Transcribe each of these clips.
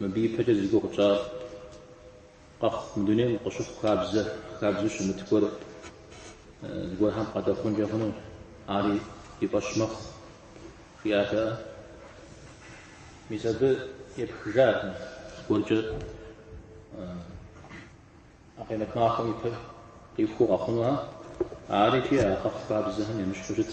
Мыбы ипэкӏэ зи гугъу тщӏащ. Къэхъу мы дунейм къыщыхъу хабзэ, хабзэу щымыт гуэр зыгуэрхэм къадэхъункӏэ хъуну, ари и фӏэщ мэхъу, жиӏатэ. Мис абы епхыжащ зыгуэркӏэ а къемэт махуэм ипэ къихуэу къэхъунухэр, ари икӏи а къэхъу хабзэхэм емыщхьу щыт.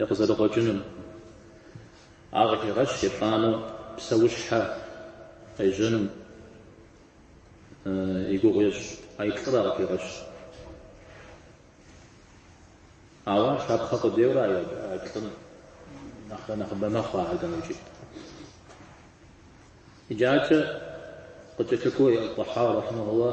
и къызэрыкъуэкӏынум. Ар къыхегъэщ етӏанэу псэущхьэ къежьэнум и гугъу ещӏ а иплӏыр къыхегъэщ. Ауэ ар шапхъэ къудейуэ а иплӏым нэхърэ нэхъыбэ мэхъу ахэр дауикӏ. Иджыкӏэ къыкӏэлъыкӏуэу Тӏэхьауи рахьимэхулла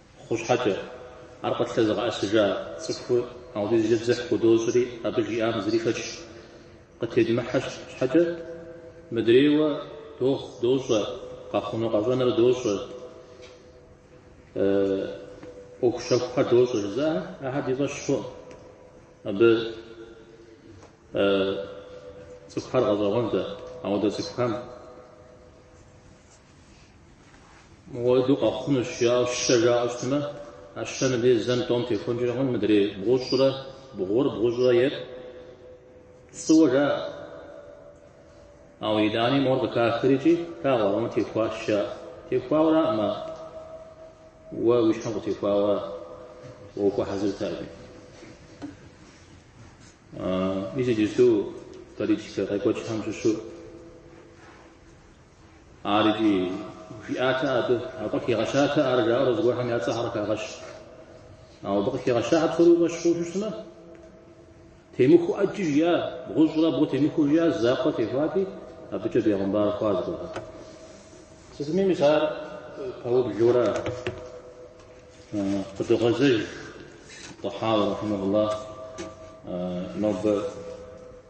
Хъу щхьэкӏэ, ар къытлъэзыгъэӏэсыжа цӏыхур ауэдизкӏэ дзыхь худощӏри, абы жиӏам зыри шэч къытедмыхьэ щхьэкӏэ, мыдрейуэ дохъу, дощӏэ, къэхъуну къэщӏэныр дощӏэ, ӏуэхущэхухэр дощӏэ жызыӏэхэр, ахэр ди фӏэщ хъуӏым. Абы цӏыхухэр гъэщӏэгъуэнт дэ, ауэдэ цӏыхухэм Мыуэдэу къэхъунущ, жаӏэу щэ жаӏэу щытмэ, а щэ мыбдей зэм тӏом техуэнкӏэ мэхъу, мыдрей бгъущӏрэ бгъур, бгъущӏрэ ир пцӏыуэ жаӏэ. Ауэ итӏани мор къыхахри икӏи плъагъурэ, мор техуащ жаӏэ. Техуауэраӏым ар. Уэ уи щхьэм къытехуауэ уэ ухуэхьэзырт ари. Мис иджыпсту политикэ къекӏуэкӏхэм щыщу Ар икӏи, жиӏатэ абы, абы къыхигъэщатэ ар жаӏэурэ зыгуэрхэм я цӏэхьэр къыхагъэщ. Ауэ абы къыхигъэща псори укъэщ хъуну щытмэ, темыхуэу ӏэджи жиӏа, бгъущӏрэ бгъу темыхуэу жиӏа, закъуэ техуати, абыкӏэ бегъымбар хъуа зыгуэрхэр. Сытми мис ар пэублэурэ къыдогъэзэж Тӏэхьауи, рахьимэхулла, нобэ.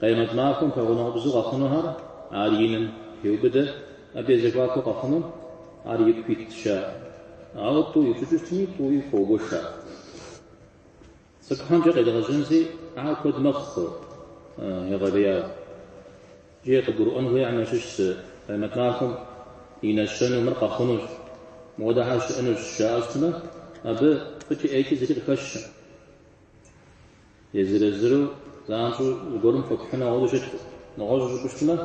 Къемэт махуэм пэгъунэгъубзэу къэхъунухэр ар иным хеубыдэ, абы я зэхуакуу къэхъуну ар ику итщ, жаӏэ. Ауэ тӏу ипщӏыкӏыу щытми, тӏуи хуогуэша. Цӏыкӏухэмкӏэ къедгъэжьэнщи ар куэд мэхъу, егъэлеяуэ. Икӏи къыбгурыӏуэн хуейхэм ящыщ зы къемэт махуэм и нэщэнэу мыр къэхъунущ, мыуэдэхэр щыӏэнущ жаӏэу щытмэ, абы фӏыкӏи ӏейкӏи зыри къыхэщэ. Езыр-езыру занщӏэу зыгуэрым хуэпхьыну ауэдэу щыткъым. Нэгъуэщӏу жыпӏэу щытмэ,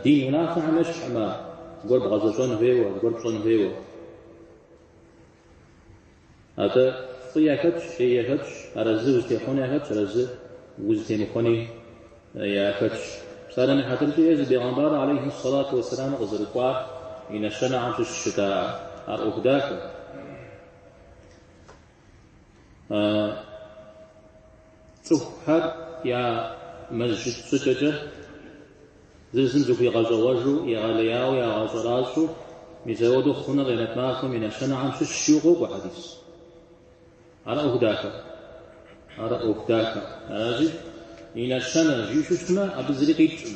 дин унафэхьэм ещхьмэ, зыгуэр бгъэзэщӏэн хуейуэ, зыгуэр пщӏэн хуейуэ. Атӏэ фӏы яхэтщ, ӏей яхэтщ, арэзы узытехъуэни яхэтщ, арэзы узытемыхуэни яхэтщ. Псалъэм и хьэтыркӏэ Езы бегъэмбар алейхьи сэлату уэсселаму къызэрыкӏуар и нэщэнэхэм щыщ щыта ар ӏуэху дахэ. А цӏыхухэр я мэжджыт щӏыкӏэкӏэ зыр-зым зыхуигъэщӏэгъуэжу, егъэлеяуэ ягъэщӏэращӏэу, мис ауэдэу хъуныр къемэт махуэм и нэщэнэхэм щыщу къокӏуэ хьэдис. Ар ӏуэху дахэ. Ар ӏуэху дахэ. Аращи, и нэщэнэ жиӏэу щытмэ, абы зыри къикӏкъым.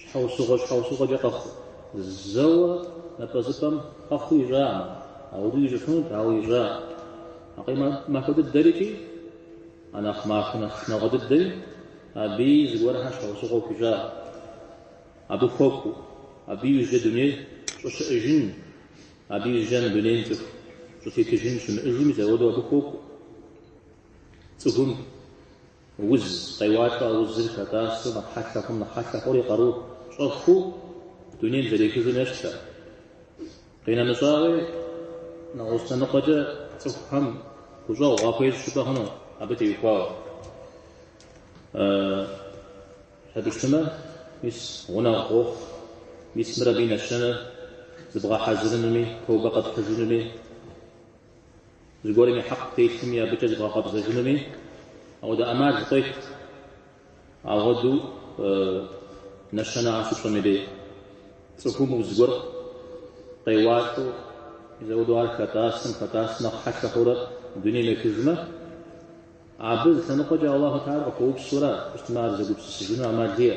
Щхьэусыгъуэ щхьэусыгъуэкӏэ къэхъу. Зэуэ напӏэзыпӏэм къэхъуу ищӏакъым, ауэдэ ищӏыфынут, ауэ ищӏакъым. А къемэт махуэ дыдэр икӏи а нэхъ махуэ нэхъ шынагъуэ дыдэри абыи зыгуэрхьэр щхьэусыгъуэу хуищӏакъым. Абы хуэкӏуэу, абы иужькӏэ дунейр щӏыщыӏыжын, абы иужькӏэ мы дунейм цӏыху щӏытетыжын щымыӏыжу, мис ауэдэу абы хуокӏуэ. Цӏыхум. Уз къеуалӏэ, а узыр хэтӏасэу нэхъ хьэлъэ хъум нэхъ хьэлъэ хъури къару щӏэхуу дунейм зэрехыжым ещхьщ. Къинэмыщӏауи, нэгъуэщӏ лъэныкъуэкӏэ цӏыхухэм гущӏэгъу къахуещӏ жыпӏэ хъуну абы теухуауэ? Щхьэ жыпӏэмэ, мис гъунэгъу къохъу, мис мыр абы и нэщэнэр зыбгъэхьэзырынуми, тобэ къэпхьыжынуми. Зыгуэрым и хьэкъ птелъми, абыкӏэ зыбгъэкъэбзэжынуми ауэдэ ӏэмал къует. Ауэдэу нэщэнэхэр щыпщӏэм и дей цӏыхум уз гуэр къеуалӏэу, мис ауэдэу ар хэтӏасым, хэтӏасым нэхъ хьэлъэ хъурэ дунейм ехыжмэ, абы зы лъэныкъуэкӏэ Аллаху Тэхьэла къыхуэупсу ара, къыщытмэ ар зэгупсысыжыну ӏэмал иӏэ.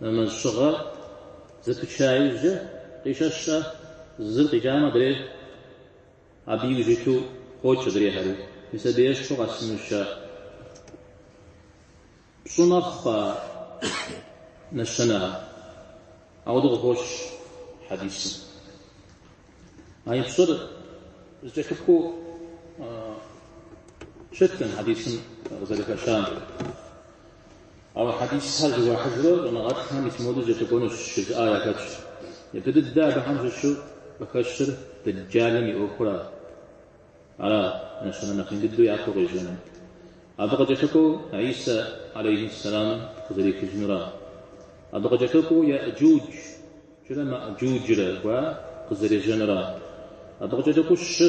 Нэмэз щыгъэр зэпыча иужькӏэ къищэщу зыр къикӏам адрейр абы иужь иту къокӏ адрейхэри. Ис абы ещхьу къэсынущ а пщӏы мэхъу а нэщэнэр. Ауэдэу къыхощ хьэдисым. А и пщӏыр зэкӏэлъыкӏуэу щытым хьэдисым къызэрыхэщам. Ауэ хьэдисхэр зыхуахьыжрэ щӏэныгъэлӏхэм ис модэу зэкӏэлъыкӏуэнущ жызыӏар яхэтщ. Ипэ дыдэ абыхэм щыщу къыхэщыр Дэджалым и ӏуэхур ара нэщэнэ нэхъ ин дыдэу япэу къежьэну? Абы къыкӏэлъыкӏуэу Ӏисэ алейхьиссэламым къызэрехыжынура? Абы къыкӏэлъыкӏуэу Яэджуджрэ Маэджуджрэ гуар къызэрежьэнура? Абы къыкӏэлъыкӏуэу щы?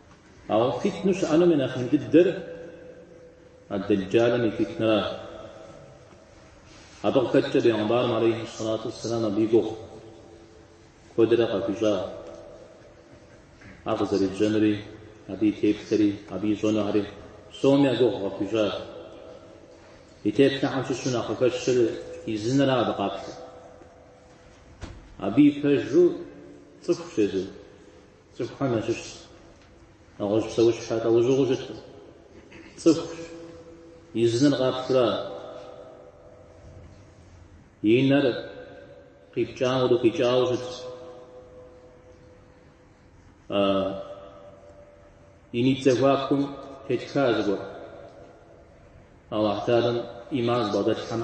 Ауэ фитну щыӏэнум и нэхъ ин дыдэр а Дэджалым и фитнэращ. Абы къыхэкӏкӏэ Бегъымбарым алейхи сэлату уссэлам абы и гугъу куэдрэ къахуищӏащ. Ар къызэрежьэнури, абы и теплъэри, абы ищӏэнухьэри псоми я гугъу къахуищӏащ. И теплъэхэм щыщу нэхъ къыхэщыр и зы нэра абы къаплъэ. Абы и пэжу цӏыхущ езыр, Цӏыхухэм ящыщщ нэгъуэщӏ псэущхьэ лӏэужьыгъуэу щыткъым. Цӏыхущ, и зы нэр къаплъэрэ и нэр къипкӏауэ къикӏауэ щытщ. И нитӏ зэхуакум тетха зыгуэр Аллахь Тэхьэлам иман зыбгъэдэлъхэм.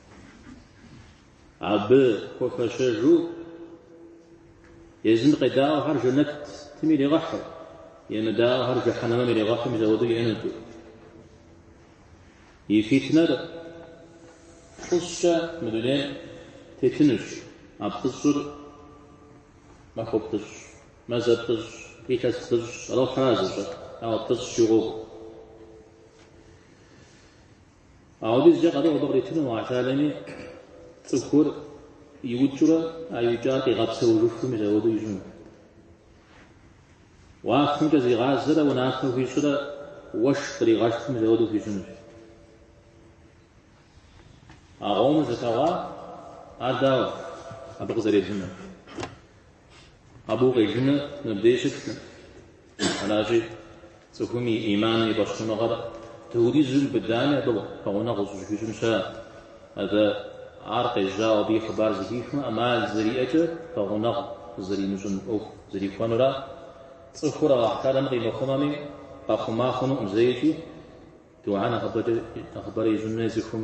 Абы хуэфэщэжу езым къедаӏуэхэр жэнэтым иригъэхьу, емыдаӏуэхэр жыхьэнэмэм иригъэхьум зэхуэдэу иӏэнут. И фитнэр плӏыщӏкӏэ мы дунейм тетынущ, а плӏыщӏыр махуэ плӏыщӏ, мазэ плӏыщӏ, илъэс плӏыщӏ, Алыхьыра зыщӏэр, ауэ плӏыщӏ щыгъуэгу. Ауэдизкӏэ къару абы къритыну Алыхь Тэхьэлами цӏыхур иукӏыурэ а иукӏар къигъэпсэужыфым и зэхуэду ищӏыну. Уафэмкӏэ зигъазэрэ унафэ хуищӏрэ уэшх къригъэшхым и зэхуэду хуищӏынущ. А къомыр зылъэгъуа, ар дауэ абы къызэрелыну? Абы укъелыныр мыбдеж щытмэ, аращи, цӏыхум и иман и фӏэщхъуныгъэр дауэдизу быдэми, абы пэгъунэгъу зыщӏыхуищӏын щыӏэкъым. Атӏэ, ар къежьауэ абы и хъыбар зыхихмэ, ӏэмал зэриӏэкӏэ пэгъунэгъу зэримыщӏын ӏуэху зэрихуэнура. Цӏыхур Алыхь Тэхьэлам къимыхъумэми, къэхъума хъунукъым зэикӏи, духьэ нэхъыбэрэ ищӏын хуей цӏыхум.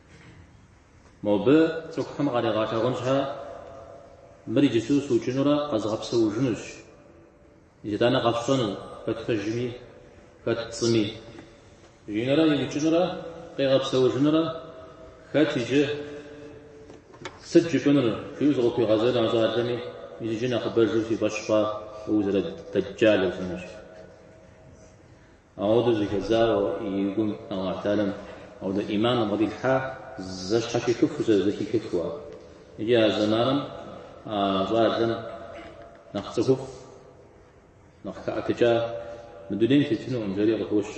Мобы цӏыхухэм къаригъэлъагъун щхьэ, мыр иджыпсту сыукӏынурэ къэзгъэпсэужынущ. Итӏанэ къэфщӏэну хэт пэжми, хэт пцӏыми. Жиӏэнурэ иукӏынурэ къигъэпсэужынурэ хэт иджы, сыт жыпӏэнур, жиӏэу зыкъыхуигъазэрэ а щӏалэми, мис иджы нэхъыбэжу си фӏэщ хъуа узэрыдэджалыр жиӏэнущ. Ауэдэ зыхэдзауэ и гум Аллахь Тэхьэлам ауэдэ иман бгъэдилъхьа зэщхьэщихыфу зэхихыфу. Икӏи а зэманым а щӏалэм нэхъ цӏыхуфӏ, нэхъ хэӏэтыкӏа мы дунейм тетынукъым, жери къыхощ.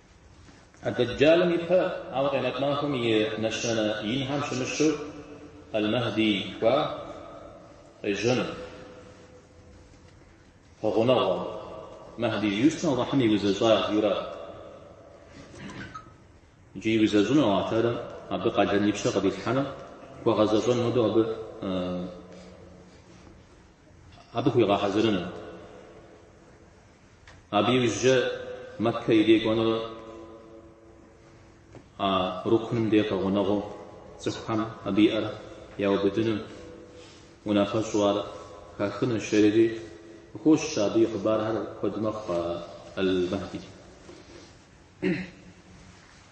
Дэджалым и пэ, ауэ къемэт махуэм и нэщэнэ инхэм щымыщу Эл-Мэхди кӏуа къежьэну. Гъунэгъуэ. Мэхди жиӏэщ Аллахьым иузэщӏа жиӏэурэ. Иджы иузэщӏыну Аллахь Теалэм абы къалэн и пщэ къыдилъхьэну, хуэгъэзэщӏэн хуэдэу абы абы хуигъэхьэзырыну. Абы иужькӏэ Мэккэ и дей кӏуэнурэ а рукным де къэгъунэгъуу цӏыхухэм абы и ӏэр яубыдыну унафэщӏу ар хахынущ жери къыхощ, абы и хъыбархэр куэд мэхъу Ал-Махди.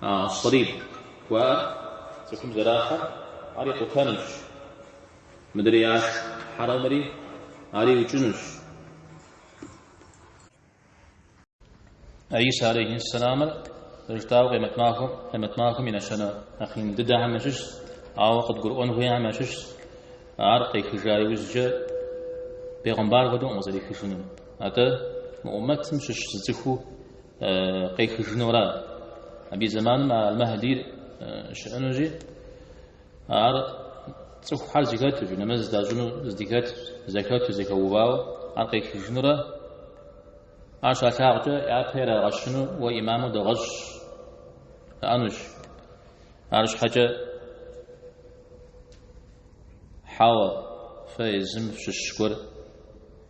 Ас-салиб жыхуаӏэр цӏыхум зэрахьэр ар икъутэнущ. Мыдрей ӏэщ хьэрэмри ар иукӏынущ. Гӏисэ алейхьиссэламыр зэрыжытӏауэ къемэт махуэм и нэщэнэ нэхъ ин дыдэхэм ящыщщ, ауэ къыдгурыӏуэн хуейхэм ящыщщ, ар къехыжа иужькӏэ бегъымбар хуэдэукъым къызэрехыжыну. Атӏэ мы ӏумэтым щыщ зы цӏыхуу, къехыжынура абы и зэманым а Аль-Махдир щыӏэнущи, ар цӏыхухэр зэхэту, нэмэз здащӏыну здыхэт, зэхэту, зэхэувауэ, ар къехыжынурэ ар щалъагъукӏэ япэ ирагъэщыну уэ имаму дэгъэщӏ жаӏэнущ. Арщхьэкӏэ хьэуэ, фэ езым фыщыщ гуэр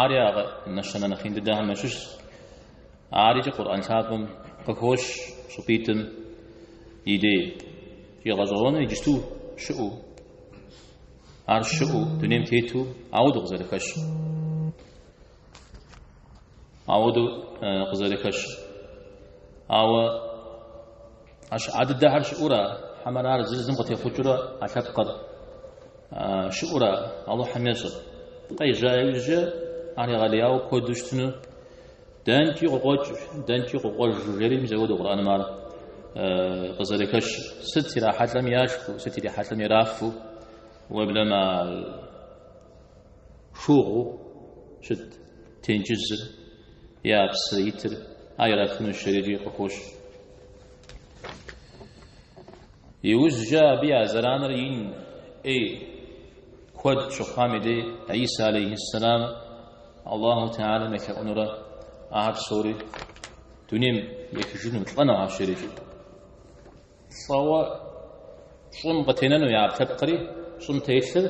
Ари а нэщэнэ нэхъ ин дыдэхэм ящыщщ. Ар икӏи Къурӏэн лъапӏэм къыхощ щӏыпӏитӏым и дей гъэщӏэгъуэну иджысту щыӏэу, ар щыӏэу, дунейм тету ауэдэу къызэрыхэщ. Ауэдэу къызэрыхэщ. Ауэ А щыӏа дыдэхэр щыӏура? Хьэмэрэ ар зыр зым къытехъукӏыурэ а лъэпкъыр щыӏура? Алыхьым ещӏэр къежьа иужькӏэ ар егъэлеяуэ куэду щытыну дэнкӏи къыкъуэкӏ, дэнкӏи къыкъуэж жери мис ауэдэу Къурӏэным ар къызэрыхэщ. Сыт ирахьэлӏэм яшхыу, сыт ирихьэлӏэм ирафу, уеблэмэ шыугъэу щыт тенджызыр, я псы итыр, ар ирафынущ жери къыхощ. Иужькӏэ абы я зэраныр ин ӏей куэд щыхъуам и дей Гӏисэ алейхьиссалам Аллаху Теалэм елъэӏунурэ ахэр псори дунейм ехыжыну лӏэнухэщ жерикӏэ. Лӏэуэ Щӏым къытенэну я ӏэпкълъэпкъри щӏым телъыр,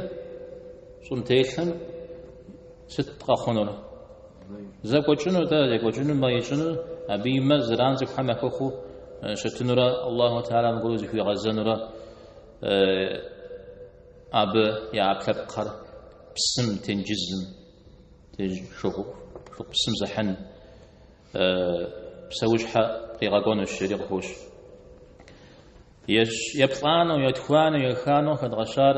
щӏым телъым сыт къэхъунур? Зэкӏуэкӏыну тӏэ, зэкӏуэкӏыну, мэ ищӏыну, абы и мэ зэран цӏыхухэм яхуэхъуу щытынурэ Аллахьу Тэхьэлам аргуэру зыхуигъэзэнурэ абы я ӏэпкълъэпкъхэр псым, тенджызым, шыгъу, шыгъу псым зыхьын. псэущхьэ къигъэкӏуэнущ, жери къыхощ. Еплӏанэу, етхуанэу, еханэу хэдгъэщар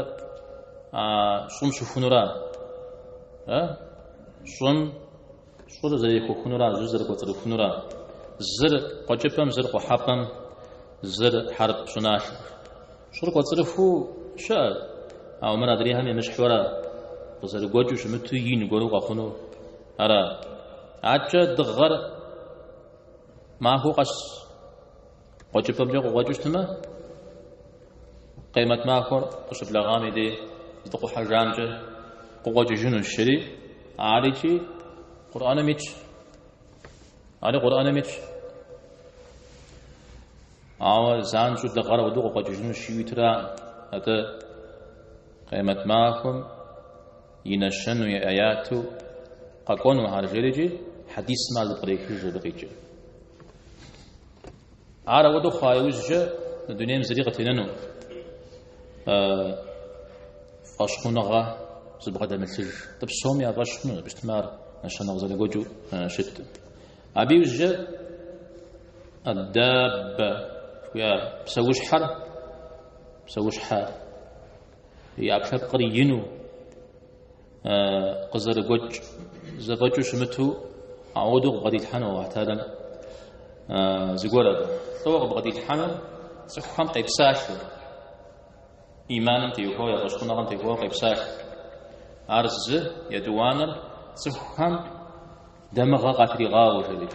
щӏым щыхунура? Щӏым щӏыр зэрехуэхынура, щӏыр зэрыкӏуэцӏрыхунура? Зыр къуэкӏыпӏэм, зыр къухьэпӏэм, зыр хьэрып щӏыналъэ. Щӏыр кӏуэцӏрыхуу щыӏэ, ауэ мыр адрейхэм емыщхьурэ, къызэрыгуэкӏыу щымыту ин гуэру къэхъуну? Ара? Адэкӏэ дыгъэр махуэу къэс къуэкӏыпӏэмкӏэ къыкъуэкӏыу щытмэ, къемэт махуэр къыщыблэгъам и дей здыкъухьэжамкӏэ къыкъуэкӏыжынущ, жери, арикӏи Къурӏэным итщ. Ари Къурӏэным итщ. Ауэ занщӏэу дыгъэр ауэдэу къыкъуэкӏыжынущ, жиӏэу иту аракъым. Атӏэ къемэт махуэм И нэщэнэу и аяту къэкӏуэну ар жери икӏи хьэдисым ар зэпкърехыж сыт къикӏыр. Ар ауэдэу хъуа иужькӏэ мы дунейм зыри къытенэну фӏэщхъуныгъэ зыбгъэдэмылъыж. Атӏэ псоми я фӏэщ хъуну, абы щытмэ ар нэщэнэ къызэрыгуэкӏыу щыту. Абы иужькӏэ аддаббэ жыхуиӏа псэущхьэр, псэущхьэ и ӏэпкълъэпкъыр ину, къызэрыгуэкӏ зэфӏэкӏыу щымыту ауэдэу къыбгъэдилъхьэну Аллахь Тэхьэлам зыгуэр абы. Тӏууэ къыбгъэдилъхьэну цӏыхухэм къепсалъэу, иманым теухуауэ, я фӏэщхъуныгъэм теухуауэ къепсалъэ. Ар зы етӏуанэр цӏыхухэм дамыгъэ къатригъауэу жери.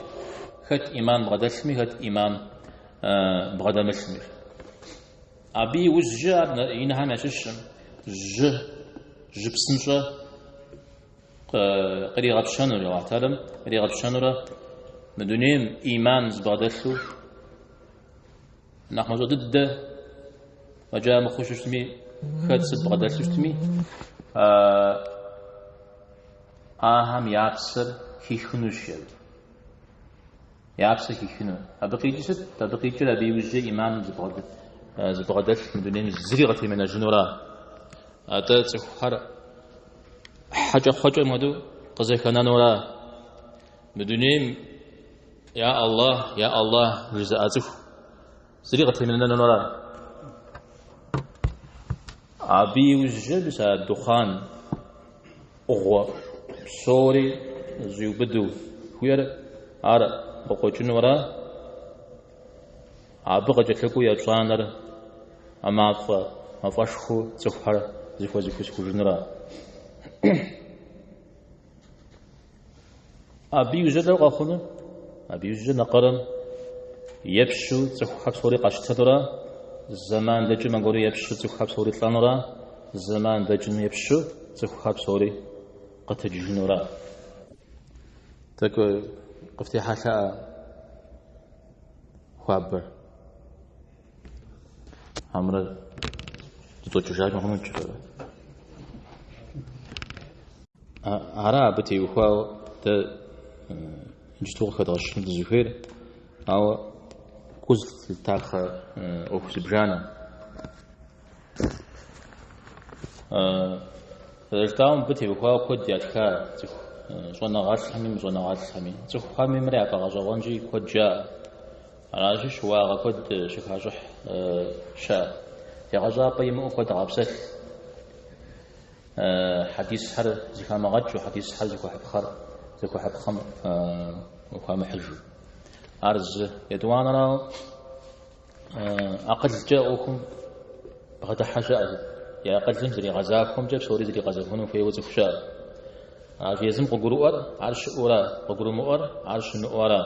Хэт иман бгъэдэлъми, хэт иман бгъэдэмылъми. Абы иужькӏэ ари инхэм ящыщу мы жьы, жьы псынщӏэ къригъэпщэнур, Аллахь Тэхьэлам къригъэпщэнурэ мы дунейм ӏиман зыбгъэдэлъу нэхъ мащӏэ дыдэ фӏэкӏа мыхъуу щытми, хэт сыт бгъэдэлъу щытми, ахэм я псэр хихынущ, жери. Я псэ хихыну. Абы къикӏыр сыт? Абы къикӏыр абы иужькӏэ ӏиманым зыбгъэдэлъ мы дунейм зыри къытемынэжынура? Атӏэ цӏыхухэр хьэкӏэкхъуэкӏэм хуэдэу къызэхэнэнура? Мы дунейм я Аллахь, я Аллахь жызыӏэ цӏыху. Зыри къытемынэнура. Абы иужькӏэ мис а духъан ӏугъуэ псори зыщӏиубыдэу хуиӏэр ар къыкъуэкӏынура, абы къыкӏэлъыкӏуэу епщӏанэра мафӏэ мафӏэшхуэу цӏыхухэр зыхуэзыхусыжынура. Абы иужькӏэ къэхъуну? Абы иужькӏэ нэкъырым епщу цӏыхухэр псори къэщтэнура, зэман дэкӏым аргуэру епщу цӏыхухэр псори лӏэнура, зэман дэкӏым епщу цӏыхухэр псори къэтэджыжынура. Тӏэкӏу къыфтехьэлъа хуабэр? Хьэмрэ дытӏокӏыжар мыхъуну кӏыхэрэ? Ара абы теухуау дэ иджыту къыхэдгъэщыну дызыхуейр, ауэ гу зылъытапхъэ ӏуэху зыбжанэ. Зэрыжытӏауэ мыбы теухуауэ куэд ятха цӏыху щӏэныгъэлӏхэми, мыщӏэныгъэлӏхэми. Цӏыхухэми мыр яфӏэгъэщӏэгъуэнщи куэд жаӏэ. Аращи, щыуагъэ куэд щыхащӏыхь щыӏэ, егъэщӏапӏэ имыӏэу куэд къапсэлъ. Хьэдисхэр зыхамыгъэкӏыу, хьэдисхэр зыхуэхьыпхъэр зыхуэхьыпхъэм хуамыхьыжу. Ар зы, етӏуанэрауэ акъылкӏэ ӏуэхум бгъэдыхьэ щыӏэ, и акъылым зригъэзахуэмкӏэ псори зригъэзэхуэну хуейуэ цӏыху щыӏэ. Ар езым къыгурыӏуэр ар щыӏэура, къыгурымыӏуэр ар щымыӏэура.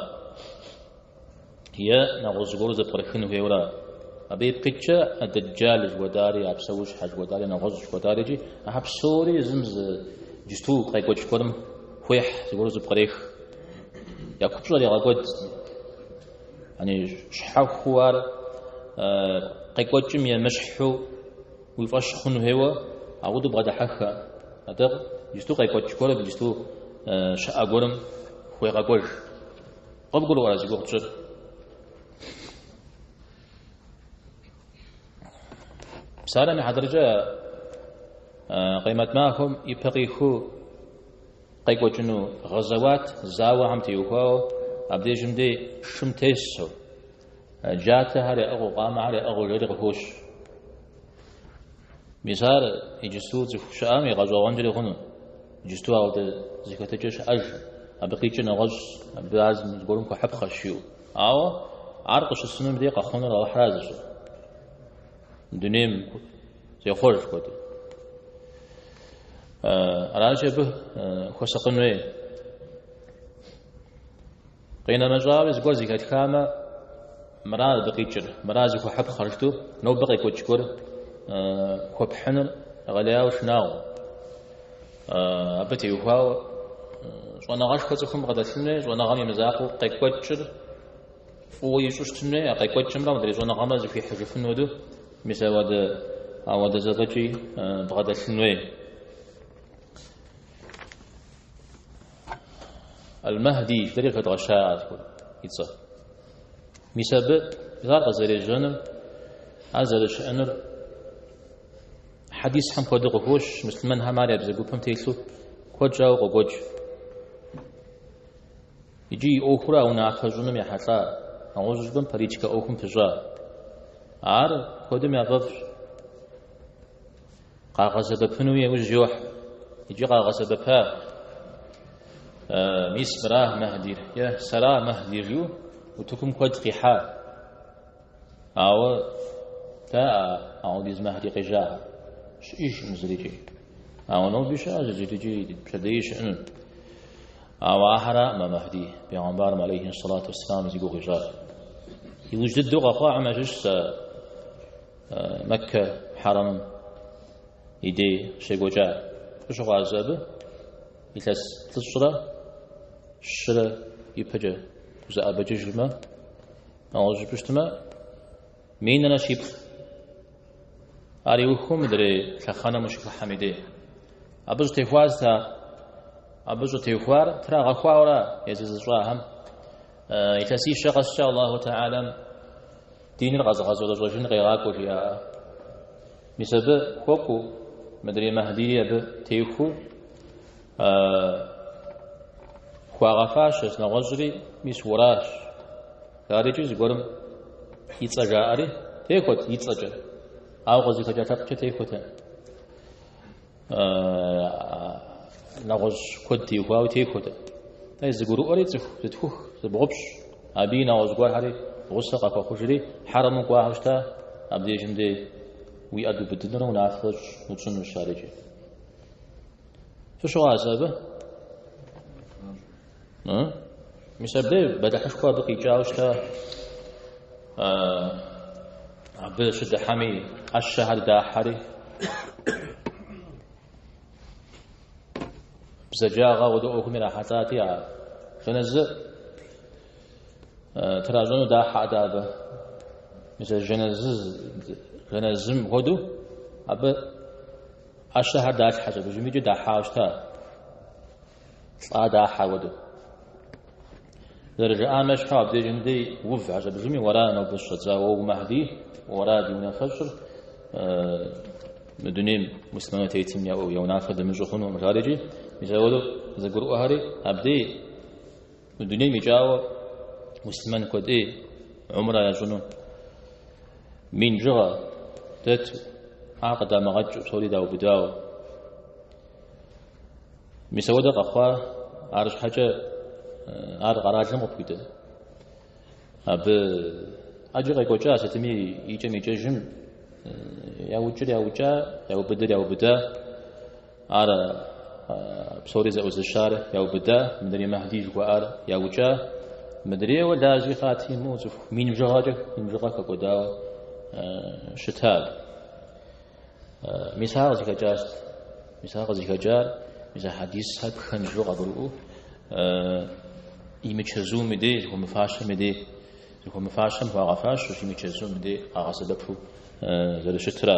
Е нэгъуэщӏ зыгуэру зэпкърыхын хуейуэра? Абы ипкъ иткӏэ Адэджал жыхуэтӏари, а псэущхьэ жыхуэтӏари, нэгъуэщӏ жыхуэтӏари икӏи ахьэр псори езым зы иджысту къекӏуэкӏ гуэрым хуехь, зыгуэру зыпкърех. Я купщӏэр егъэкӏуэд. Яни щхьэхуу ар къекӏуэкӏым емыщхьу уи фӏэщ хъун хуейуэ, ауэдэу бгъэдыхьэххэ. Атӏэ иджысту къекӏуэкӏ гуэрым, иджысту щыӏэ гуэрым хуегъэкӏуэж. Къыбгурыӏуа зи гугъу тщӏыр? Псалъэм и хьэтыркӏэ Къемэт махуэм ипэ къиху къекӏуэкӏыну гъэзэуат зауэхэм теухуауэ, абдежым дей шым тесу, джатэхэр яӏыгъыу, къамэхэр яӏыгъыу жери къыхощ. Мис ар иджысту цӏыху щыӏэм игъэщӏэгъуэнкӏэри хъуну? Иджысту ауэдэ зэхэтыкӏэ щыӏэжкъым. Абы къикӏыр нэгъуэщӏщ, абы ар зыгуэрым хуэхьыпхъэщ, жиӏэу. Ауэ ар къыщысынум дей къэхъунур Алыхьра зыщӏыр. Дунейм зехъуэж жыхуэтӏи. Аращи, абы хуэсакъын хуей. Къинэмэщӏауи зыгуэр зыхэтхамэ, мыра абы къикӏыр, мыра зыхуэхьыпхъэр, жытӏэу нобэ къекӏуэкӏ гуэр хуэпхьыныр гъэлеяуэ шынагъуэ. Абы теухуауэ щӏэныгъэшхуэ цӏыхум бгъэдэлъын хуей, щӏэныгъэм и мызакъуэу къекӏуэкӏыр фӏыуэ ищӏу щытын хуей, а къекӏуэкӏымрэ мыдрей щӏэныгъэмрэ зыхуихьыжыфын хуэдэу, мис ауэдэ зэфӏэкӏи бгъэдэлъын хуей. Аль-Махди жытӏэри къыхэдгъэща абы и цӏэр. Мис абы ар къызэрежьэныр, ар зэрыщыӏэныр хьэдисхэм куэду къыхощ, муслъымэнхэм ар я бзэгупэм телъу куэд щӏауэ къокӏуэкӏ. Иджы и ӏуэхур а унафэ щӏыным ехьэлӏа, нэгъуэщӏу жыпӏэм политикэ ӏуэхум пыщӏа. Ар куэдым яфӏэфӏщ. Къагъэсэбэпыну яужь йохь. Иджы къагъэсэбэпа. Мис мыра Мэхьдир? Е, сэра Мэхьдир, жиӏэу утыкум куэд къихьа. Ауэ дэ а ауэдиз Мэхьди къежьахэ. Щыӏэжкъым зырикӏи. Ауэ ноби щыӏэ зырикӏи пщэдеи щыӏэну. Ауэ ахэраӏым Мэхьди, пигъэмбарым алейхи салату вассалам зи гугъу ищӏар. Иужь дыдэу къэхъуахэм ящыщ сэ Мэккэ хьэрэмым и дей щекӏуэкӏа фыщыгъуазэ абы илъэс плӏыщӏрэ щырэ ипэкӏэ узэӏэбэкӏыжмэ, ауэ жыпӏэщтмэ, минрэ щиплӏ. Ар иухыу мыдрей лъэхъэнэм ущыхыхьэм и дей. Абы щӏытехуар сыт? Абы щӏытехуар трагъэхуауэра езы зыщӏахэм? Илъэсищэ къэскӏэ Аллаху Тэхьэлэм Диныр къэзыгъэщӏэрэщӏэжын къегъакӏуэ жиӏаӏэ. Мис абы хуэкӏуу мыдрей Мэхьдири абы техуу хуагъэфащэщ, нэгъуэщӏри мис уэращ. Ар иджы зыгуэрым и цӏэ жаӏэри техуэт и цӏэкӏэ, ауэ къызыхэкӏа лъэпкъкӏэ техуэт. нэгъуэщӏ куэд теухуауэ техуэт. Атӏэ зыгурыӏуэри цӏыху зытхух, зыбгъупщӏ, абы и нэгъуэщӏ гуэрхэри гъусэ къахуэхъужри, хьэрэму кӏуахэу щыта, абдежым дэ уи ӏэ дубыдынурэ унафэщӏ утщӏынущ ар иджы. Фыщыгъуазэ абы? Мис абы бэлыхьышхуэ абы къикӏауэ щыта, абы щыдыхьэми ӏэщэхэр дахьэри, бзаджагъэ хуэдэ ӏуэхум ирахьэлӏати, а жэнэзы тращӏэну дахьэт абы. Мис а жэнэзым хуэдэу абы ӏэщэхэр далъхьэщ, абы жымикӏэ дахьауэ щыта. Лӏа дахьа хуэдэу. Зэрыжаӏам ещхьу, абдежым дей ув гьэщӏэбжыми, уэра нобэ щыщӏэдзауэ Махьдий, уэра ди унафэщӏыр мы дунейм мусульману тетым я унафэ дымыщӏу хъунукъым, жаӏэрикӏи, мис ауэдэу зэгурыӏуэхэри абдей мы дунейм икӏауэ мусульман куэдӏей умра ящӏыну мин бжыгъэ дэту, ар къыдамыгъэкӏыу, псори даубыдауэ. Мис ауэдэ къэхъуа, арщхьэкӏэ ар къэралым къыпхуидэ. Абы ӏэджи къекӏуэкӏа сытми икӏэм-икӏэжым яукӏыр яукӏа, яубыдыр яубыда, ар псори зэӏузыщар яубыда, мыдрей Махьдий жыхуаӏар яукӏа, мыдрейуэ лажьи хъати имыӏэу цӏыху мин бжыгъэкӏэ, мин бжыгъэ хэкӏуэдауэ щыта абы. Мис ар къызыхэкӏар сыт? Мис ар къызыхэкӏар мис а хьэдисхэр пхэнжу къагурыӏуэу имычэзум и дей, зыхуэмыфащэм и дей, зыхуэмыфащэм хуагъэфащ, имычэзум и дей къагъэсэбэпу зэрыщытра.